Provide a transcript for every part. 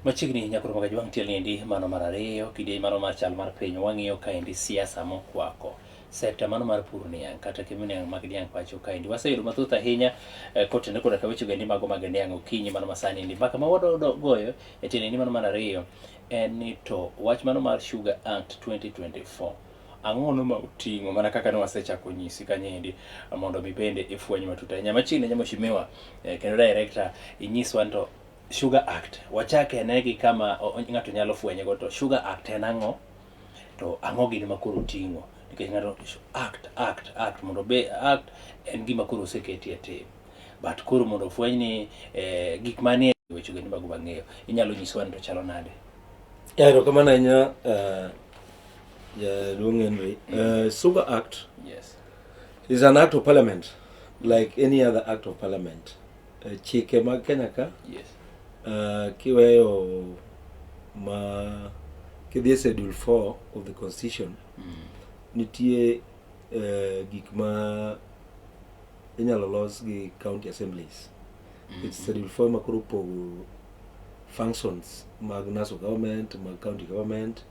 Machiegni nyakoro magaji wang' tiel niendi mano mar ariyo kidieny mano mar chal mar piny wang'iyo kaendi siasa mokwako sekta mano mar pur niang' kata kemi niang' mag niang' pacho kaendi waseyudo mathoth ahinya eh, kotenore koda ka weche gendi mago mag niang' okinyi mano masani endi mbaka ma wadodo goyo e tiende ni mano mar ariyo en ni to wach mano mar Sugar Act 2024 ang'ono ma uting'o mana kaka ne wasechako nyisi kanyendi mondo mi bende ifweny matut ahinya machiegni nyamo shimiwa eh, kendo director inyiswa to sugar act wachak ene gi kama o- o- ng'ato nyalo fwenyego to sugar act en ang'o to ang'o gini ma koro oting'o nikech ng'ato act act act mondo be act en gima koro oseketi e tim but koro mondo ofweny ni eh, gik manie weche gini mago mang'eyo inyalo nyiswa ni to chalo nade Erokamano ahinya eh, Yeah, Dwong Henry. Uh, Super Act Yes. is an act of parliament, like any other act of parliament. Uh, chike mag Kenya ka Yes. uh, kiweyo ma kidhi e schedule 4 of the constitution Mm. nitie uh, gik ma inyalo los gi county assemblies Mm. it's schedule 4 ma koro opogo functions mag national government mag county government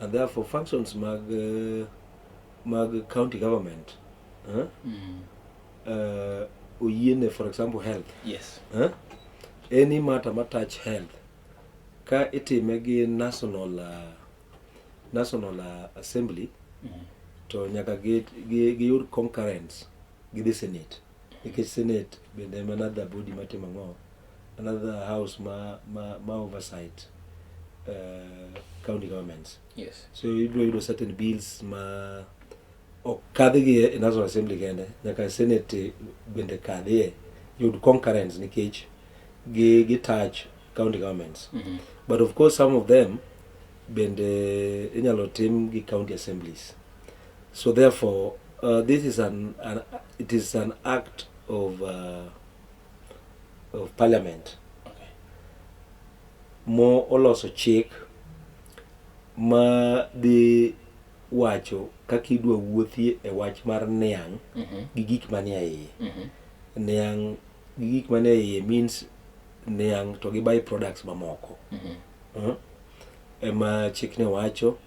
And therefore functions mag uh, mag county government huh? mm. uh, oyiene for example health yes. huh? any matter ma touch health ka itime gi national uh, national uh, assembly mm. to nyaka giyud gi, gi concurrence gi the senate nikech senate bende en another body matimo ang'o, another house ma, ma, ma oversight uh, county governments yes so ibiro yudo certain bills ma ok kadhigi e national assembly kende nyaka senate bende kadhie yud concurrence nikech gi gi touch county governments mm -hmm. but of course some of them bende inyalo tim gi county assemblies So therefore, uh, this is an, an, it is an act of, uh, of parliament. Okay. Mo oloso chik ma dhi wacho kaka idwa wuothie e wach mar niang' mm -hmm. gi gik manie iye. Mm -hmm. Niang' gi gik manie iye means niang' to gi by products mamoko. Mm -hmm. uh -huh. Ema chikne wacho.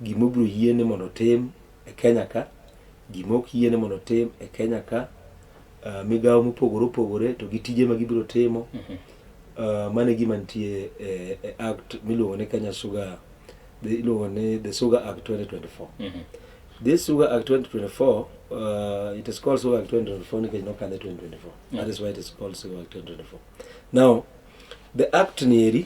gima obiro yiene mondo otim e Kenya ka, gima ok yiene mondo otim e Kenya ka, uh, migawo mopogore opogore to gi tije ma gibiro timo. Uh, mano e gima nitie e, e act miluongo ni Kenya Sugar the- iluongo ni the Sugar Act 2024. This Sugar Act 2024, uh, it is called Sugar Act 2024 nikech nokadhe 2024. That is why it is called Sugar Act 2024. Now, the act nieri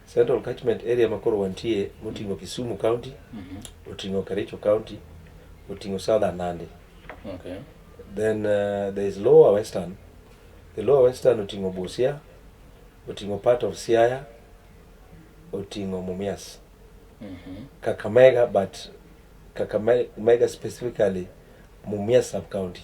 Central Catchment Area ma koro wantie moting'o Kisumu County, oting'o Kericho County, oting'o Southern Nandi. Okay. Then uh, there is Lower Western. The Lower Western oting'o Busia, oting'o part of Siaya, oting'o Mumias. Kakamega but Kakamega specifically Mumias sub county.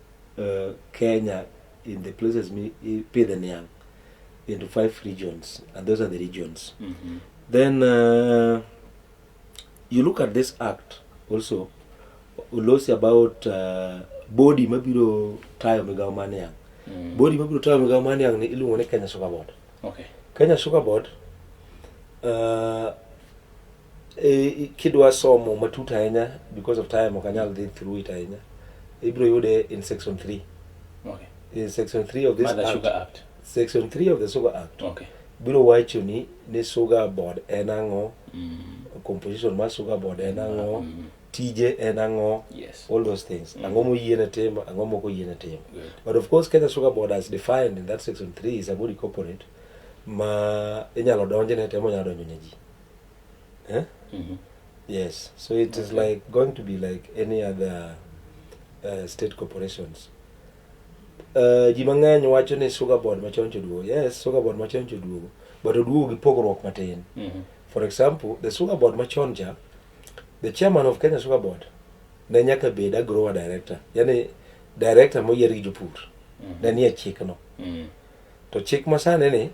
uh, Kenya in the places mi ipidhe niang into five regions and those are the regions mm -hmm. then uh, you look at this act also ulosi about uh, body mabiro tayo migawo mar niang mm. body mabiro tayo migawo mar niang ni iluongo ni Kenya Sugar Board okay. Kenya Sugar Board uh, E, kidwa somo matut ahinya because of time ok anyal dhi through it ahinya ibiro yude in section 3 okay. in section 3 of this act, sugar act section 3 of the sugar act okay. biro wacho ni ni sugar board en ang'o mm. composition mar sugar board en ang'o mm. mm. tije en ang'o yes. all those things mm. ang'o moyiene timo ang'o moko yiene timo but of course kenya sugar board as defined in that section 3 is a body corporate ma inyalo donjne temo nyalo donjo ne ji Eh? Mm -hmm. Yes. So it okay. is like going to be like any other uh, state corporations. Uh, ji mang'eny wacho ni sugar board machon choduogo yes sugar board machon choduogo but oduogo gi pogruok matin mm -hmm. for example the sugar board machon cha the chairman of kenya sugar board ne nyaka bed agrower director yani director moyier gi jopur mm -hmm. ne nie chikno mm -hmm. to chik masani ni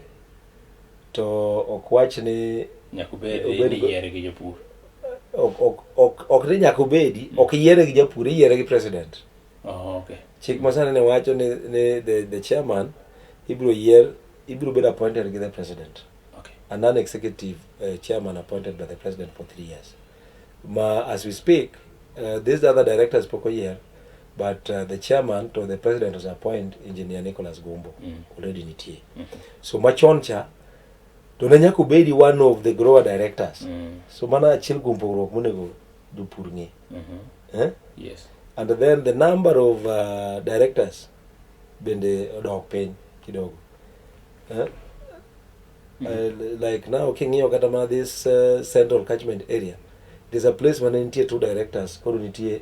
To ok wach ni nyaka obed Obed ni go- yiere gi jopur. ok, ok, ok, ok ni nyaka obedi, ok yiere gi japur, iyiere gi president. Oh, okay. Chik masani ne wacho ni, ni the, the chairman ibiro yier, ibiro bedo appointed gi the president. Okay. a non-executive uh, chairman appointed by the president for three years. Ma, as we speak, uh, these other directors pok oyier, but uh, the chairman to the president was appoint engineer Nicholas Gumbo mm. already nitie mm. so machon cha to ne nyaka obedi one of the grower directors mm. so mana achiel kuom pogruok monego jopur ng'e mm -hmm. eh? yes. and then the number of uh, directors bende odok piny kidogo eh? mm. uh, mm-hmm. like now king'iyo kata mana this uh, central catchment area there's a place mane nitie two directors koro nitie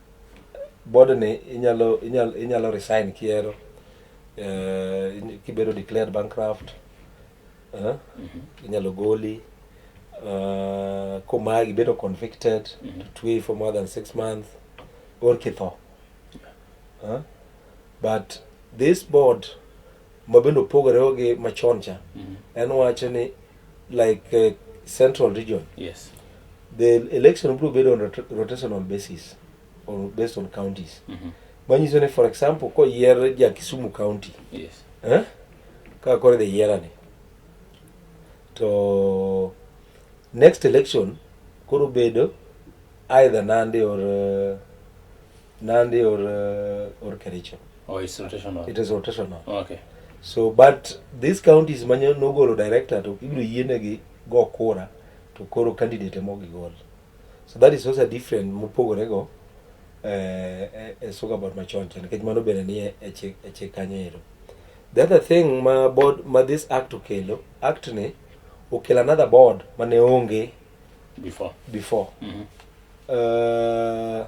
Board ni inyalo inyalo inyalo resign kihero eh, kibedo declared bankrupt eh, inyalo goli uh, komagi bedo convicted mm -hmm. to twey for more than six months or kitho huh? but this board mabende opogore gi machon cha mm -hmm. en wacho ni like uh, central region yes the election biro bedo on rot- rotational basis or based on counties Mhm. manyiso ni for example koyier ja kisumu county yes eh? kaka koro idhi yierani to next election koro bedo either nandi or uh, Nandi or uh, or Kericho. Oh, it's rotational. It is rotational. Oh, okay. So but these counties manyo nogolo director to ibiro yienegi go kura to koro candidate emo gigol. So that is also different mopogore go eh, eh, eh soka about machoncha nikech mano bende ni e, e chik e chik kanyo ero. The other thing ma board ma this act okelo act ni okelo another board mane onge before before. Mm -hmm. uh,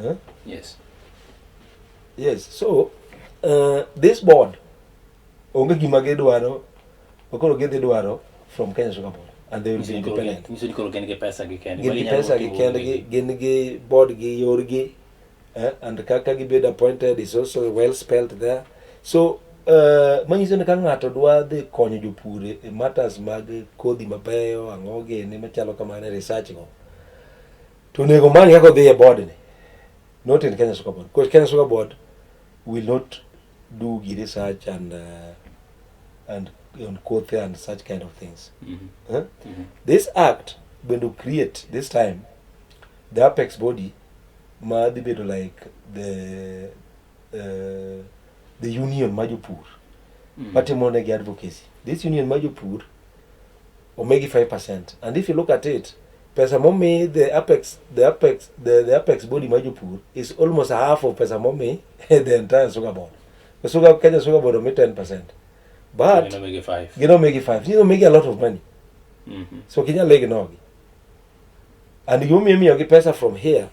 Huh? Yes. Yes. So uh, this board onge gima gidwaro makoro gidhi dwaro from Kenya Sugar Board and they will be independent. Nyiso ni koro gin gi pesa gi kendgi. Gin gi pesa gi kendgi, gin gi board gi yorgi eh? and kaka gibedo appointed is also well spelled there. So Eh, manyiso ni ka ng'ato dwa dhi konyo jopur e matters mag kodhi mabeyo ang'o gene machalo kamano e research go To onego man kaka odhi e board ni, not in Kenya Soccer Board, because Kenya Soccer Board will not do gi research and uh, and on Kothe and such kind of things. Mhm. Huh? Mhm. This act going to create this time the apex body ma dhi bedo like the uh, the union ma jopur Mhm. matimo negi advocacy. This union ma jopur omigi 5% and if you look at it pesa momi the apex the apex the, the apex body ma jopur is almost half of pesa momi the entire sugar board the sugar Kenya sugar board omi 10% but you know make it five you know make it five you know make a lot of money mm -hmm. so kinya legi nogi and you me me pesa from here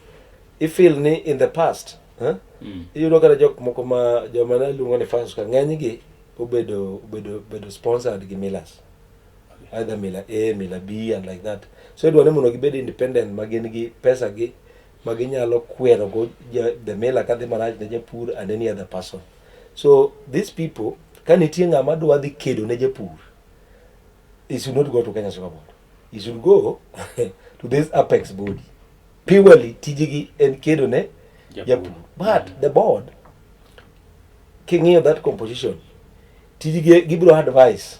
if feel ni in the past huh? mm. iyudo kata jok moko ma joma ne luongo ni fans ka ng'enygi obedo obedo obedo sponsored gi Millers either mila A, mila B and like that. So idwa ni mondo gibed independent ma gin gi pesa gi ma ginyalo kwero go the mila kadhi marach ne japur and any other person. So these people ka nitie ng'ama dwa dhi kedo ne japur he should not go to Kenya Sugar Board. He should go to this apex body. Purely tijigi en kedo ne japur. But the board king'iyo that composition tijigi gibiro advice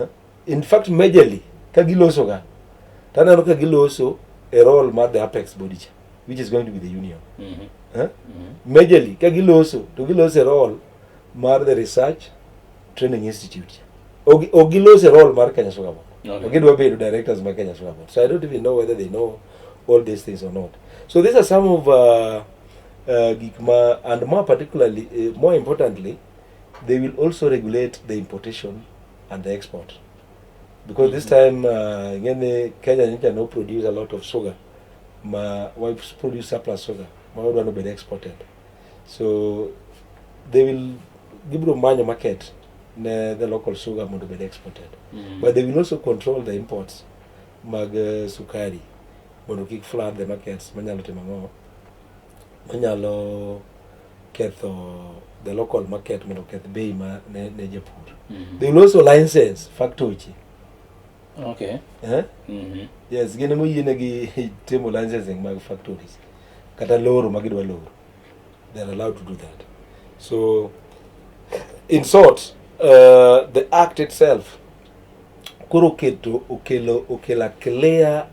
Eh? in fact majorly ka giloso ga to aneno ka giloso a role mar the apex body cha which is going to be the union Mhm. eh? majorly ka giloso to giloso a role mar the research training institute cha Ok- ok giloso a role mar kenya sugar board Okay. gidwa bedo directors ma kenya sugar board so i don't even know whether they know all these things or not so these are some of uh, uh, gik ma and more particularly uh, more importantly they will also regulate the importation and the export because this time uh, ng'eni Kenya nyicha no produce a lot of sugar ma wa produce surplus sugar ma wadwa no bed exported so they will gibiro manyo market ne the local sugar mondo bed exported mm. but they will also control the imports mag uh, sukari mondo kik flood the markets manyalo timo ang'o Onyalo ketho the local market mondo oketh bei ma ne, ne japur. Mm -hmm. They will also license factory. Okay. Eh? Mm -hmm. Yes, gin ema oyienegi timo licensing mag factories kata loro ma gidwa loro. They are allowed to do that. So in short, uh, the act itself koro oketo okelo okela clear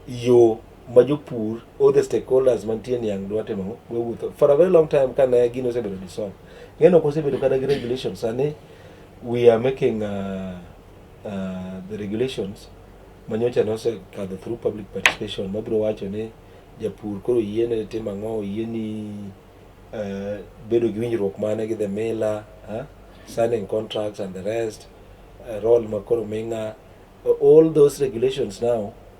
yo ma jopur all the stakeholders mantie niang' dwa timo ang'o wawuotho for a very long time ka ne gino osebedo dissolved ng'eno ok osebedo kata gi regulations sani we are making uh, uh, the regulations manyocha ne osekadho through public participation mabiro wacho ni japur koro yiene tim ang'o yieni uh, bedo gi winjruok mane gi the miller uh, signing contracts and the rest uh, role makoro ming'a all those regulations now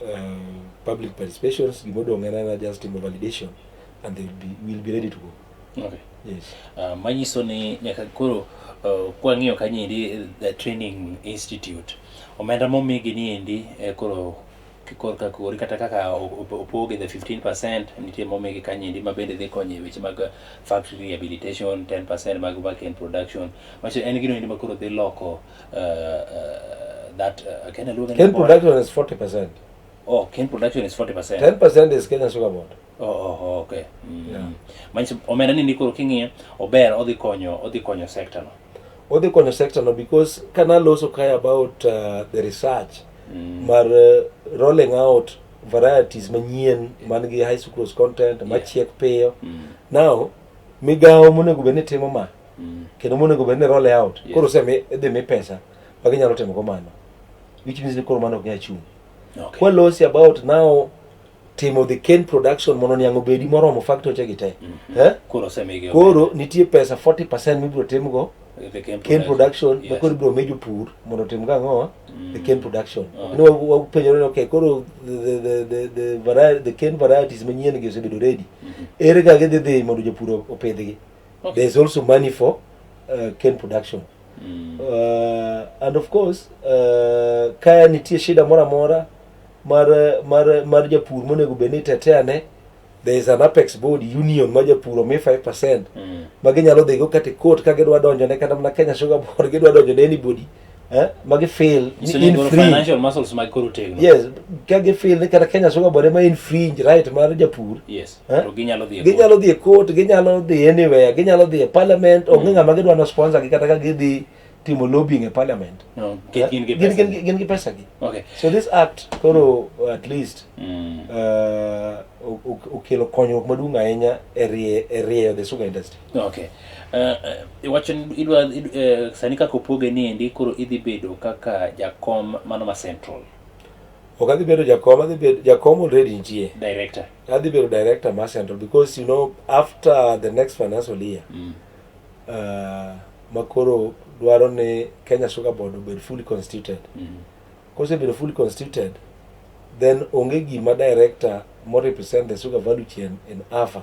uh, public participations gima odong' en ana just timo validation and they will be, will be ready to go okay. yes. uh, manyiso ni nyaka koro uh, kwang'iyo kanyendi eh, the training institute omenda momigi ni endi eh, koro korka kori kata kaka opoge the 15 percent nitie momigi kanyendi ma bende dhi konyo e weche mag factory rehabilitation 10 percent mag work in production macho en gino endi ma koro dhi loko Uh, uh, that uh, Kenya Luo Cane production is 40%. Oh, cane production is 40%. 10% is Kenya Sugar Board. Oh, oh, oh okay. Mm. Yeah. Manyiso omenda ni nikoro king'iye ober odhi konyo odhi konyo sector no. Odhi konyo sector no because can also care about uh, the research mm. mar uh, rolling out varieties manyien man gi high sucrose content yeah. machiek piyo. Mm. Now migawo monego bed ni timo ma mm. kendo monego bed ni roll out yes. koro semi idhi mi pesa ma ginyalo timo go mano which means ni koro mano ok nyal chung okay. kwa losi about now timo the cane production mondo niang' obedi moromo factoche gi te mm -hmm. eh? koro, koro nitie pesa 40 percent mibiro timgo cane production yes. makoro ibiro mejo pur mondo otim ga ang'o mm. the cane production ni wapenjore okay koro the, the, the, the, variety, the cane varieties manyien gi osebedo ready mm -hmm. ere ga gidhi dhi mondo jopur opidhgi Okay. There's also money for uh, cane production. Mm. Uh, and of course, uh, kaya nitie shida mora mora mar mar mar japur monego bed ni tetea ne there is an apex board union ma japur omi 5% mm. ma ginyalo dhigo kata court ka gidwa donjo ne kata mana Kenya Sugar Board gidwa donjo ne anybody mm. eh, ma gifeel ni Isenyo in golo free financial muscles mag koro tegno yes ka gifeel ni kata kenya sugar board ema infringe right mar japur yes Eh? to ginyalo dhi e court. ginyalo dhi e court ginyalo dhi anywhere ginyalo dhi e parliament onge ng'ama gidwa no sponsor gi kata ka gidhi timo lobbying e parliament No, gin- gin gi Gin- pesa. gin- gin gi pesa gi okay so this act koro uh, at least Mm. uh, o- o- okelo konyruok maduong' ahinya e rie- e rieyo the sugar industry Okay. Uh, iwacho ni idwa id, uh, sani kaka opoge ni endi koro idhi bedo kaka jakom mano ma central ok adhi bedo jakom adhi bedo jakom already nitie director adhi bedo director ma central because you know after the next financial year mm. uh, makoro dwaro ni kenya sugar board obed fully constituted mm. kosebedo fully constituted then onge gima director mo represent the sugar value chain in afa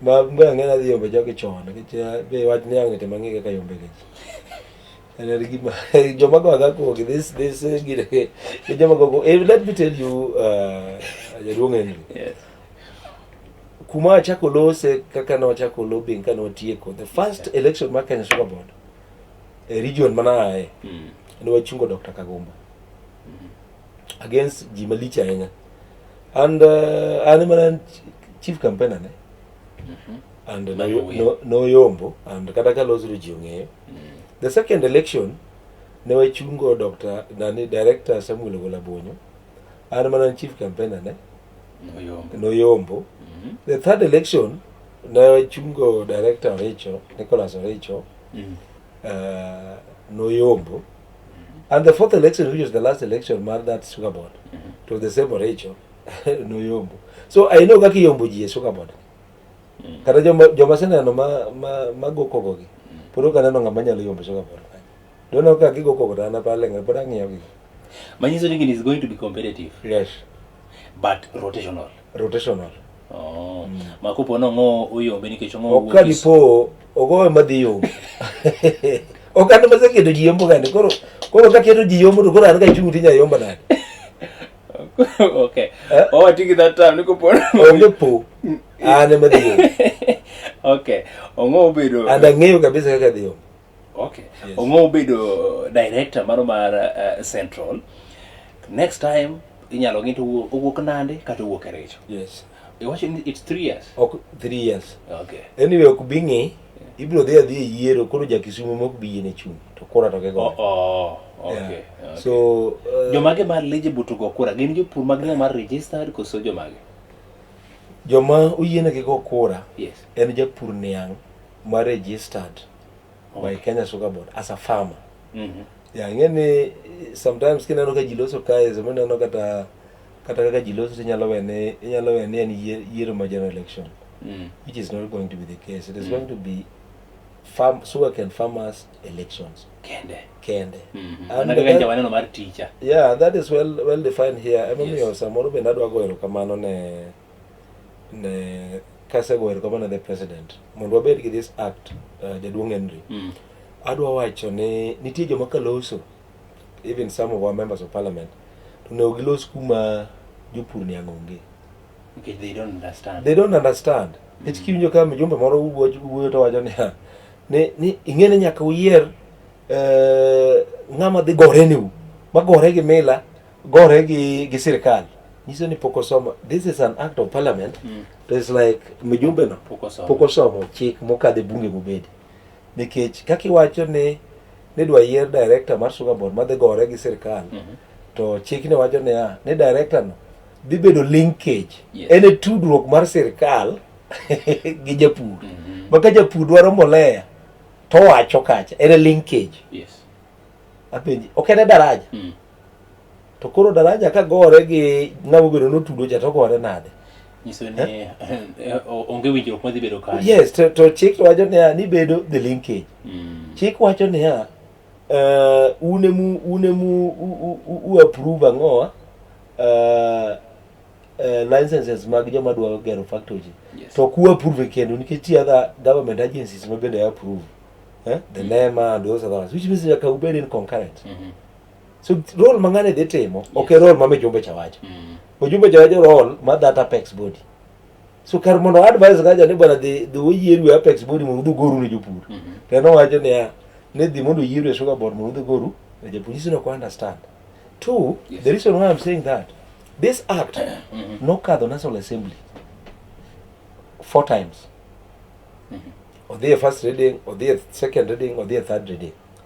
Ma mbe ang'ena dhi yombe jogi chon nikech eh, be wach ni ang'ete mang'e kaka yombe gi. And then gima joma go ga ko this this eh, gire ke joma go go eh, let me tell you uh, jaduong' Henry. Yes. Kuma achako lose kaka ne wachako lobbying ka ne watieko the first election mar Kenya Sugar Board e region mana aye Mm. ne wachungo Dr. Kagomba. against ji malich ahinya and uh, an mana chief campaigner ne mm-hmm. and noyombo no, no and kata ka losuru ji ong'eyo mm. the second election ne wachungo dr nani director samuel ogola bonyo an mana chief campaigner ne noyombo no mm-hmm. the third election ne wachungo director orecho nicholas orecho mm. uh, noyombo And the fourth election, which was the last election, marked that sugar board to the same Rachel no yombo. So I know kaki yombo ji sugar board. Mm. Kata joma joma sena no ma ma ma go kogo gi. Puro kana no ngama nyalo yombo sugar board. Don't know kaki go kogo na pale ngai pura ngiyo gi. Manyiso ni is going to be competitive. Yes. But rotational. rotational oh mm. makopo no ngo uyombe nikech ngo ok kani po ogowe madhi yo ok an ma seketo ji yombo gande koro koro ka keto ji yombo to koro an ka chung tinya yombo nade okay eh? oh tiki that time niko po onge po mm. an ma dhi yo okay ongo obedo and ang'eyo kabisa kaka dhi yombo Okay. Yes. Ongo ubedo uh, director mano mar uh, Central. Next time inyalo ng'e to owuok nande kata owuok e richo. Yes. Iwacho ni it's three years. Ok three years. Okay. Anyway, ok bi ng'i ibiro dhi adhi e yiero koro ja Kisumu mok bi yiene chung to kora to kego. Oh, oh, okay. Yeah. Okay. So uh, jomage mar eligible to go kura gin jopur mag ng'a mar registered koso jomage? Joma oyienegi go kura yes. en japur niang' ma registered. my Kenya Sugar Board as a farmer. Mhm. Yeah, ng'eni sometimes kineno ka ji loso kae sama ineno kata kata kaka ji loso tinyalo we ni inyalo we ni en yier- yiero ma general election Mm. which is not going to be the case it is going to be farm sugarcane farmers elections Kende. kende Mhm. And Mana kaka that- nja waneno mar teacher. yeah that is well well defined here emomiyo Yes. samoro bende adwa goyo erokamano ne ne kasegoyo erokamano ne the president mondo wabed gi this act uh, jaduong' Henry mm. adwa wacho ni nitie joma kaloso even some of our members of parliament to onego gilos kuma jopur ni ang'onge okay, they don't understand they don't understand mm. nikech kiwinjo ka mjumbe moro wuoyo to wacho niya ni, ni ing'e ni nyaka uyier uh, ng'ama dhi gore niu magore gi mila gore gi gi sirkal nyiso ni pok osomo this is an act of parliament mm. to it's like mijumbe no pok osomo chik mokadhe bunge mobedi nikech kaka iwacho ni nidwa yier director mar sugar board madhi gore gi sirkal mm -hmm. to chik ne wacho niya ah, ni director no dhi bedo linkage yes. en e tudruok mar sirkal gi japur mm -hmm. maka japur dwaro mbolea to wacho kacha en e linkage yes. apenji ok en e daraja mm. To koro daraja ka gore gi ng'ama obedo notudo cha to gore nade? nyiso ni eh, eh, o- onge winjruok madhi bedo kanyo Yes, to, to chik wacho niya ni bedo the linkage. Mm. Chik wacho niya uh, une mu une mu u, u, u, u approve ang'owa uh, uh, licenses mag joma dwaro gero factory. Yes. To ku approve kendo nikech ti other government agencies ma bende approve. Eh? The NEMA and those other ones, which means nyaka ubed in concurrent. Mhm. so role ma ng'ani dhi timo ok e role ma mijumbe cha wacho Mm. mijumbe cha wacho role ma that apex body so kar mondo advice kaja ni bwana dhi dhi oyieru e apex body mondo udhi ugoru ne jopur Mhm. to nowacho niya ni dhi mondo oyieru e sugar board mondo udhi ugoru ne jopur this no understand two Yes. the reason why i'm saying that this act Mhm. nokadho national assembly four times Mhm. odhi e first reading odhi e second reading odhi e third reading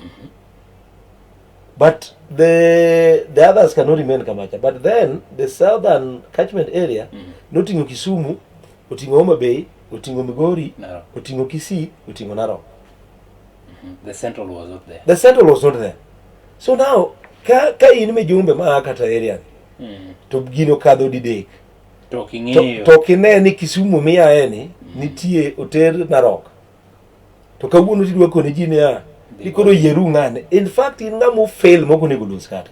Mm-hmm. But the the others cannot remain Kamacha. But then the southern catchment area mm -hmm. noting'o Kisumu, oting'o Homa Bay, oting'o Migori, Narok. oting'o Kisii, oting'o Narok. Mm -hmm. The central was not there. The central was not there. So now ka ka in mijumbe ma kata area ni mm. to gino kadho didek to king'eyo to, to kineni Kisumu miyaeni mm. nitie oter Narok to kawuono tidwa kone ji niya ikoro yieru ng'ane in fact in ng'ama ofail mok onego los kata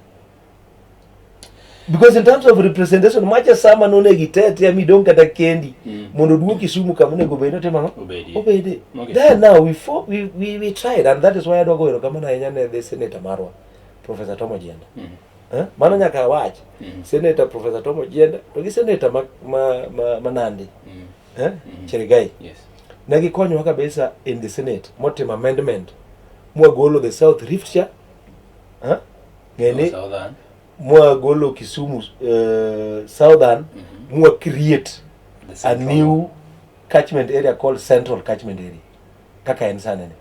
because in terms of representation macha sama nonego itetea midong kata kendi mm. mondo oduok kisumu kama onego obed notimo ang'o obede then now we, fo, we, we, we tried and that is why adwa goero kamano ahinya ne the senator marwa professor tom ojienda mm. eh? mano nyaka awach mm. senator professor tom ojienda to gi senator ma, ma, ma, ma nandi mm. eh? mm. Cherigai yes. ne gikonyowa kabisa in the Senate motimo amendment mwagolo the South Rift cha eh? ng'eni mwagolo Kisumu uh, Southern mm -hmm. mwa create a new catchment area called Central catchment area kaka en sana ni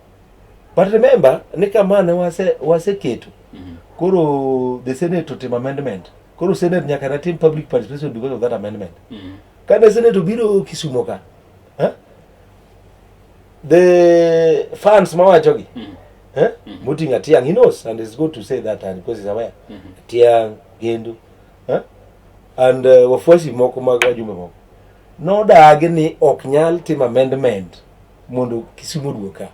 but remember ni kama ne wase wase ketu mm -hmm. koro the Senate to amendment koro Senate nyaka na team public participation because of that amendment mm -hmm. Kane Senator obiro Kisumo ka, eh, the fans mawachogi mm. eh, mm. muting Atiang, he knows and is good to say that and because he's aware. Mm -hmm. Atiang, Gendu, eh, and uh, wafuasi moko mag wajumbe moko nodagi ni ok nyal timo amendment mondo Kisumo oduog ka.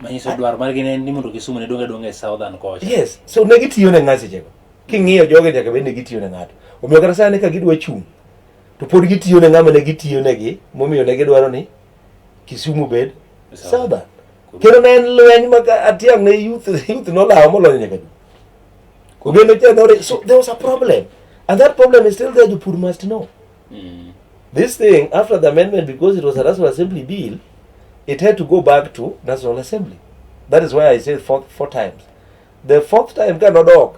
Manyiso dwaro margi ne ni mondo Kisumo ne donge donge southern kocha. Yes, so ne gitiyo ne ng'ato sechego. King'iyo joge nyaka bed ne gitiyo ne ng'ato. Omiyo kata sani ka gidwa chung' to pod gitiyo ne ng'ama ne gitiyo negi momiyo ne gidwaro ni Kisumu bed Southern. Kendo ne en lweny ma Atiang ne youth youth nolawo molony nyaka du. Ogendo cha no so there was a problem and that problem is still there you poor must know. Mm. This thing after the amendment because it was a National Assembly bill it had to go back to National Assembly. That is why I said four, four times. The fourth time ka nodok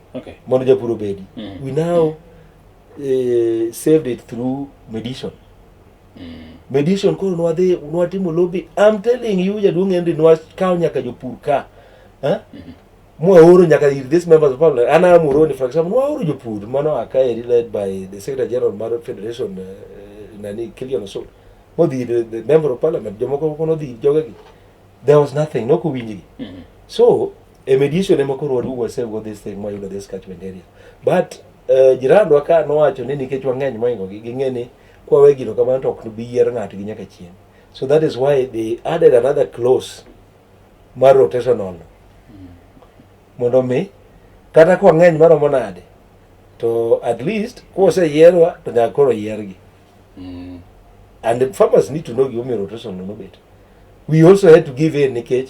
okay. mondo japur obedi mm. we now uh, saved it through medition mm. medition koro nwadhi nwatimo lobby I'm telling you jaduong' Henry nwakawo nyaka jopur ka huh? Eh? mm -hmm. mwaoro nyaka ir this members of parliament an am uroni for example mwaoro jopur mano akaeri led by the secretary general mar federation uh, nani kilian osol modhi the, the member of parliament jomoko kono dhi jogegi there was nothing nokowinjgi mm -hmm. so e mediation ema koro waduog wasego this thing mwayudo this catchment area but uh, jirandwa ka nowacho ni nikech wang'eny moingogi ging'e ni kwawe gino kamano to ok nobi yier ng'atgi nyaka chieng' so that is why they added another clause mar rotational mondo mi kata kwa ng'eny maromo nade to at least koseyierwa to nyaka koro yiergi mm. and the farmers need to know gimomiyo rotational nobet we also had to give in nikech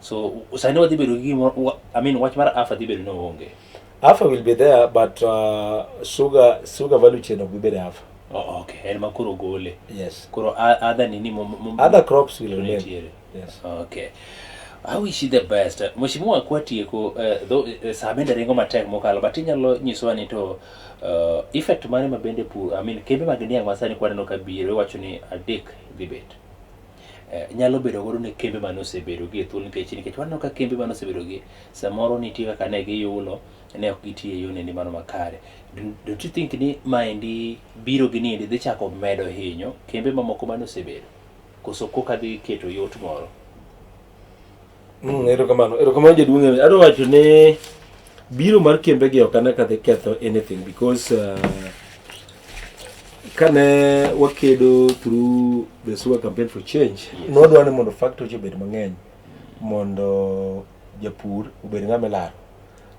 So sani wadhi bedo gi gimoro, wa- I mean wach mar afa dhi bedo ni onge. Alpha will be there, but uh, sugar sugar value chain will be better alpha. Oh, okay, en ma koro gole. Yes. Koro a- adha nini mo- mo- Other crops will remain. Nitiere. Yes. Okay. I wish you the best. Mheshimiwa kwa tieko uh, though uh, saa bende ringo matek mokalo but inyalo nyisowa ni to uh, effect mane ma bende pur I mean kembe mag niang' masani kwaneno ka biro iwacho ni adek dhi bet. Eh, nyalo bedo godo ne kembe mane osebedo gi e thuolo nikech nikech waneno ka kembe mane osebedo gi samoro nitie kaka ne giyulo ne ok gitii e yone ni mano makare don't you think ni maendi biro gi niendi dhi chako medo hinyo kembe mamoko mane osebedo koso koka dhi keto yot moro Mm, erokamano erokamano jaduong' Ewe. adwa wacho ni biro mar kembegi ok ane ka dhi ketho anything because uh, kane wakedo through the sewer campaign for change nodwa ni mondo factory obed mang'eny mondo japur obed ng'ama ilaro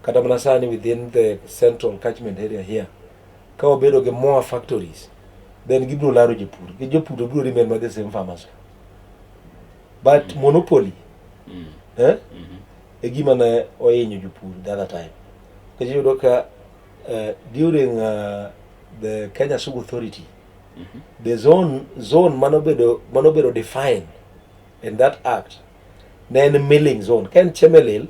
kata mana sani within the central catchment area here ka wabedo gi more factories then gibiro laro japur gi jopur to biro remain ma the same farmers But mm. monopoly mm. eh? mm -hmm. e gima ne ohinyo jopur the other time kech iyudo ka uh, during uh, the Kenya Sugar Authority mm -hmm. the zone zone manobedo manobedo defined in that act ne en milling zone ka en chemelil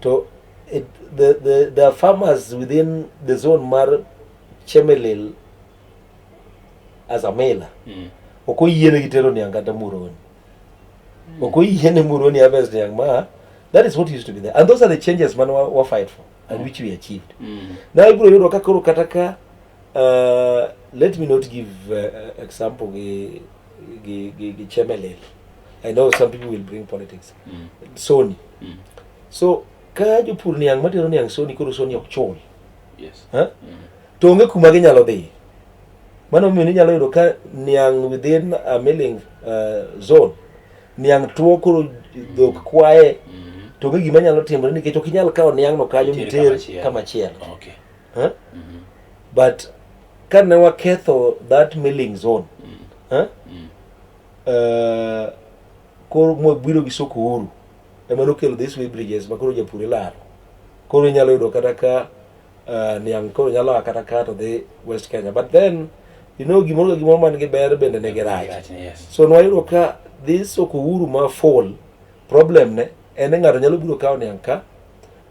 to it, the, the, the farmers within the zone mar chemelil as a mailer mm. ok oyiene gi tero niang' kata muroni mm. ok oyiene muroni harvest niang' ma that is what used to be there and those are the changes man wa, wa fight for and which we achieved mm. now ibiro yudo ka koro kata ka uh, let me not give uh, example gi gi gi, gi chemelel i know some people will bring politics mm. sony mm. so ka jopur niang' matero niang' sony koro sony ok chul yes. huh? mm. to onge kuma ginyalo dhi mano omiyo ninyalo yudo ka niang' within a milling uh, zone niang' tuo koro dhok kwaye mm-hmm. to onge gima nyalo timore nikech ok inyal kawo niang'no kanyo miter kama chielo okay. huh? mm -hmm. but ka ne waketho that milling zone mm. huh? mm. uh, koro mwabiro gi soko uru ema nokelo this way bridges ma koro japur ilaro koro inyalo yudo kata ka uh, niang koro nyalo a kata ka to dhi west kenya but then you know gimoro ka gimoro man gi ber bende ne gi rach Gotcha, yes. so nwayudo ka dhi soko uru ma fall problem ne en ni ng'ato nyalo biro kawo niang ka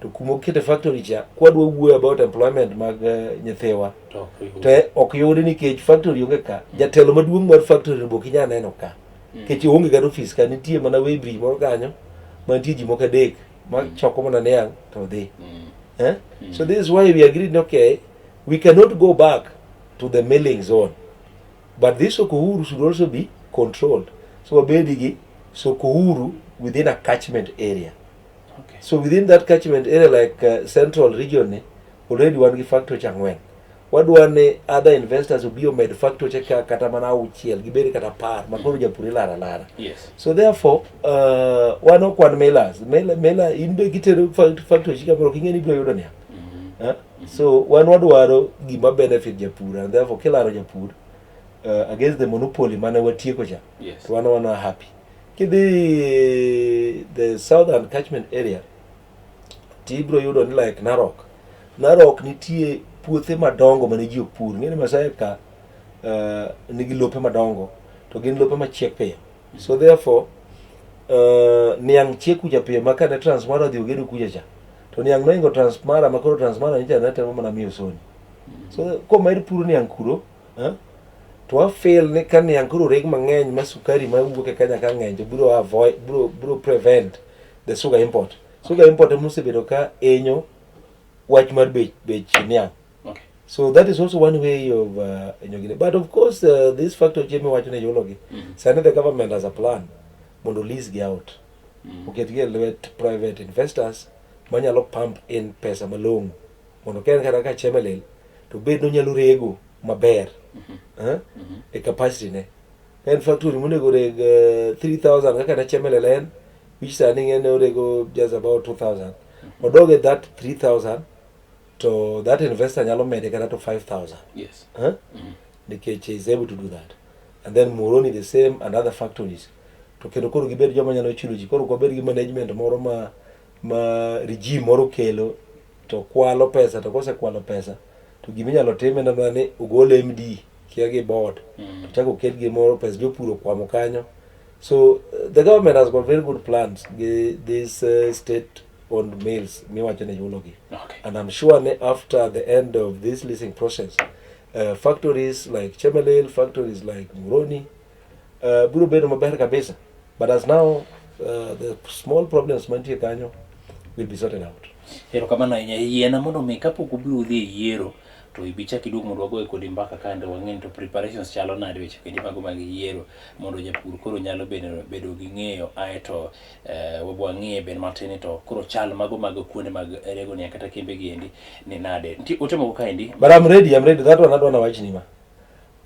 to kuma okete factory cha kwadwa wuoyo about employment mag uh, nyithiwa To ok oyud. to ok yudi nikech factory onge ka jatelo maduong' mar factory be ok inyal neno ka Nikech onge kata ofis ka nitie mana Weybridge moro kanyo mantie ji moko adek ma choko mana niang' to odhi. Eh? So this is why we agreed ni okay, we cannot go back to the milling zone. But this Sokohuru should also be controlled. So wabedi gi Sokohuru within a catchment area. Okay. So within that catchment area like uh, central region ni already wan gi factory cha ng'wen. Wadwa ni other investors obi omed factory ka kata mana auchiel gibed kata par ma koro japur ilara lara. Yes. So therefore uh, wan ok wan millers. Miller, miller in be gitero fact- factory ka koro king'e ni biro yudo niya. Eh? So wan wadwaro gima benefit japur and therefore kilaro japur uh, against the monopoly mane watieko cha. Yes. To wan wana happy. Kidhi the southern catchment area to ibiro yudo ni like Narok. Narok nitie puothe madongo mane ji opur. Ing'e ni Masai ka uh, nigi lope madongo to gin lope machiek piyo. So therefore uh, niang' chiek kucha piyo ma kane Transmara odhi ogedo kucha cha to niang' noingo Transmara ma koro Transmara nyicha ne temo mana miyo soni. So komed puro niang' kuro eh, to wafeel ni ka niang' koro reg mang'eny ma sukari ma wuok e Kenya ka ng'eny to biro avoid biro biro prevent the sugar import sugar import ema osebedo ka enyo wach mar bech bech niang okay. so that is also one way of uh, enyogine but of course uh, this factor chemi wacho ne yulogi mm -hmm. sani the government has a plan mondo lease gi out mm -hmm. oketgi e lwet private investors manyalo pump in pesa malong'o mondo ka en kata ka chemelil to bed nonyalo rego maber mm -hmm. uh, mm -hmm. e capacity ne En factory monego reg 3000 eh, kaka ne chemele len which sani ng'ene orego just about 2000 odog e that 3000 to that investor nyalo mede kata to 5000 yes. huh? mm-hmm. nikech is able to do that and then moroni the same and other factories to kendo koro gibed joma nyalo chulo ji koro kwabed gi management moro ma ma regime moro okelo to kwalo pesa to kosekwalo pesa to gima inyalo tim en mana ni ogol MD kia gi board to chako oket gimoro pesa jopur okwamo kanyo so uh, the government has got very good plans gi this uh, state owned mills miwacho ni chulogi Okay. and I'm sure ne after the end of this leasing process uh, factories like Chemelil factories like Muroni Uh, biro bedo maber kabisa but as now uh, the small problems mantie kanyo will be sorted out. Erokamano ahinya yiena mondo mi kapok ubi udhi e yiero to ibi chak iduog mondo wagoye kodi mbaka kande wang'eni to preparations chalo nade weche kendi mago mag yiero mondo japur koro nyalo bedo, bedo gi ng'eyo aeto eh, wang'ie ben matin to koro chal mago mag kuonde mag regonia kata kembe gi endi ni nade nti ote moko kaendi but I'm ready, I'm ready. That one adwa nawachni ma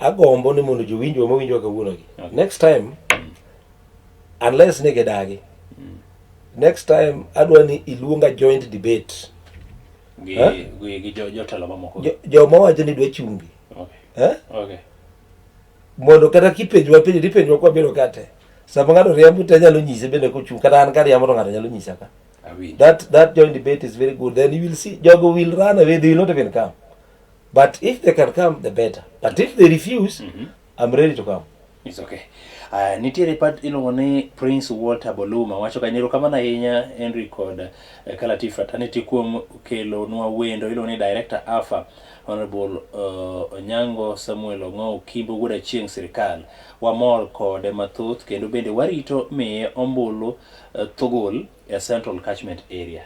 Agombo ni mondo jowinjwa ma winjwa kawuonogi. Okay. Next time mm. unless ni gidagi. Mm. Next time adwa ni iluonga joint debate. Gi huh? gi, gi jotelo jo mamoko. Jo, jo mawacho ni dwa chungi. Okay. Eh? Okay. Mondo kata kipenjwa penjo tipenjwa kwa biro kate. Sama ng'ato riambo to anyalo nyise bende kochung' kata an ka riambo to ng'ato nyalo nyisa ka. That that joint debate is very good. Then you will see jogo will run away they will not even come. but if they can come the better but if they refuse i'm ready to come It's okay. Uh, nitiere pat iluongo ni Prince Walter Boluma wacho ka nyero kamano ahinya Henry kod uh, Kalati Fraternity kuom kelo nwa wendo iluongo ni Director Alpha Honorable uh, Onyango Samuel Ong'o Kimbo wuod achieng' sirikal wamor kode mathoth kendo bende warito miye ombulu uh, thogol e Central Catchment Area.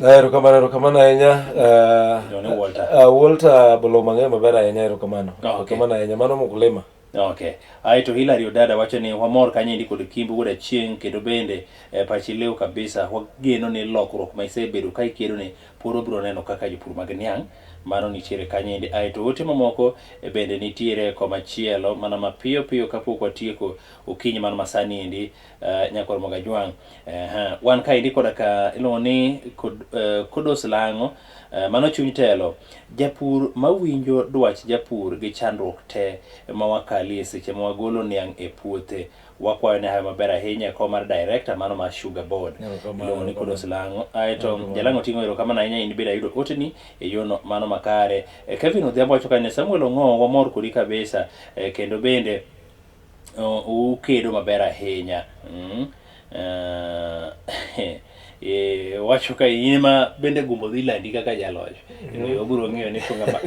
Ah, erokamano erokamano ahinya ah, Jone Walter. ah, Walter bolo mang'eny maber ahinya erokamano Ah, okay. erokamano ahinya mano mukulima Okay. Ae to Hilary Odada wacho ni wamor kanyendi kod Kimbi wuod Achieng' kendo bende eh, pachi leo kabisa wageno ni lokruok ma isebedo ka ikedo ni pod wabiro neno kaka jopur mag niang' mano nitiere kanyendi. Ae to ote mamoko eh, bende nitiere komachielo mana mapiyo piyo kapok watieko okinyi man masani endi Uh, eh, nyakor moga jwang uh, eh, huh. wan kaendi koda ka iluongo ni kod, uh, eh, kodos lang'o uh, mano chuny telo japur mawinjo dwach japur gi chandruok te ma wakalie seche ma wagolo niang' e puothe wakwayo ne hayo maber ahinya e kom mar director mano mar sugar board iluongo ni kodos lang'o aeto jalang'o ting'o erokamano ahinya in bende ayudo oteni e yono mano makare kevin odhiambo wacho kane samuel ong'o wamor kodi kabisa kendo bende ukedo maber ahinya mm. uh, e, wacho ka in ma bende gombo dhi landi kaka jaloch mm. obiro ng'eyo ni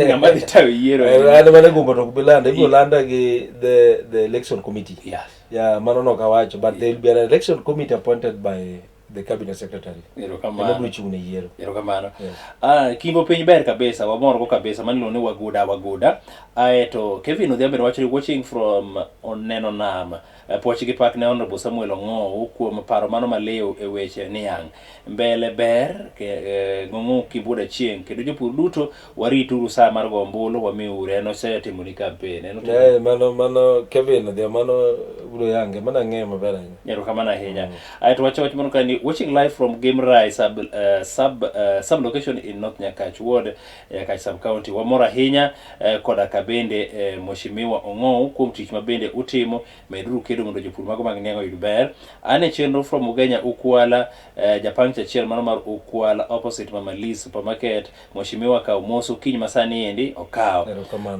ng'ama dhi tayo yiero eh, an mana gombo to ok bi landa ibiro landa gi the, the election committee yes. yeah, mano no ok awacho but yeah. there will be an election committee appointed by the cabinet secretary erokamano biro chung' ne yiero erokamano yeah. ah, kingo piny ber kabisa wamorgo kabisa manilo ni waguda waguda aeto ah, kevin odhiambe nowacho ni watching from oneno nam eh, pwoch gi pak ne honorable samuel ong'ow kuom paro mano maliw e weche niang' mbele ber eh, ng'ong'o kibuda chieng' kendo jopur duto warituru saa mar go ombulu wamiuru en osetimo ni kampen en otimo Eh, mano mano Kevin odhi mano bro yange mano ang'eyo maber ahinya erokamano ahinya ae to wacho wach moro ka ni watching live from gimrai sub, uh, sub, uh, sub location in north nyakach ward nyakach sub county wamor ahinya uh, koda ka bende uh, mweshimiwa ong'ou kuom tich ma bende utimo meduru kedo mondo jopur mago mag niang' oyud ber an e chenro from ugenya ukwala uh, japang chachiel mano mar ukwala opposite mama lee supermarket Mheshimiwa kaw mos okinyi masani endi okaw.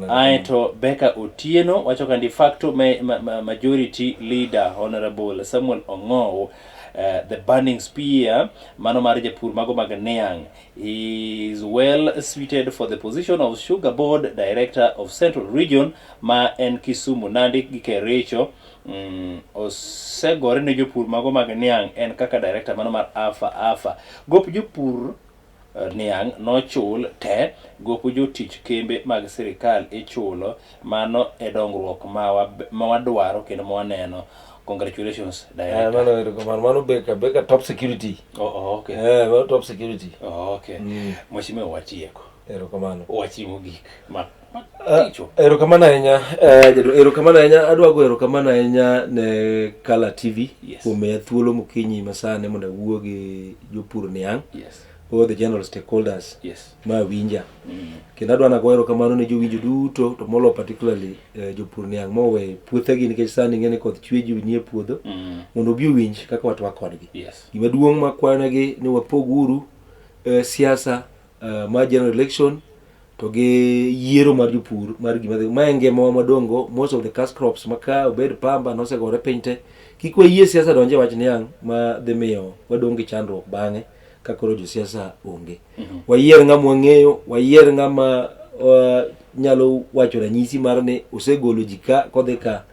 Ae to Beka Otieno wacho ka de facto ma, ma, ma, majority leader Honorable Samuel Ong'ow uh, eh, the burning spear mano mar japur mago mag Niang is well suited for the position of sugar board director of central region ma en Kisumu Nandi gi Kericho Mm, osegore ne jopur mago mag niang' en kaka director mano mar afa afa gop jopur Niang' nochul te, gopo jotich kembe mag sirikal ichulo, mano e dongruok ma wadwaro kendo ma waneno. Congratulations director. Mano erokamano, mano beka beka top security. Oh, oh, okay. Eh, mano top security. Oh, okay. Mm. Mheshimiwa watieko. Erokamano. Wachiwo gik ma Eh, erokamano ahinya eh, jadolo erokamano ahinya adwa go erokamano ahinya ne kala tv kuom miya thuolo mokinyi masani mondo awuo gi jopur niang' all the general stakeholders yes. ma winja mm. kendo adwa nago erokamano ne jowinjo duto to molo particularly eh, jopur niang' mowe puothegi nikech sani ing'e ni koth chwe ji nie puodho mm. mondo obi owinj kaka watwa kodgi yes. gima duong' makwayonegi ni wapog uru eh, siasa uh, mar general election to gi yiero mar jopur mar gima dhi ma en ngimawa madongo most of the cash crops ma ka obed pamba nosegore piny te kik wayie siasa donje wach niang' ma dhi miyo wadong' gi chandruok bang'e ka koro josiasa onge mhm. wayier ng'ama wang'eyo wayier ng'ama uh, nyalo wacho ranyisi mar ni osegolo ji ka kodhi ka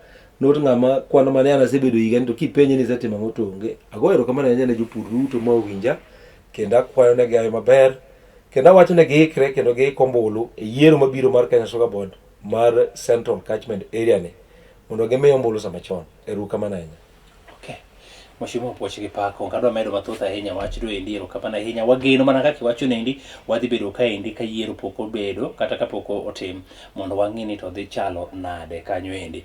not ng'ama kwano mane an asebedo higa ni to kipenje ni isetimo ang'o to onge agoyo erokamano ahinya ne jopur duto ma owinja kendo akwayo ne gayo maber kendo awacho ne giikre kendo giik ombulu e yiero mabiro mar Kenya Soccer Board mar Central Catchment Area ni mondo gimi ombulu sama chon. Erukamano ahinya. Okay. Mheshimiwa Puoch gi Pako, kadwa medo mathoth ahinya wach do endi erokamano ahinya. Wageno mana kaka iwacho nendi, wadhi bedo ka endi ka yiero pok obedo kata kapok otim mondo wang'e ni to dhi chalo nade kanyo endi.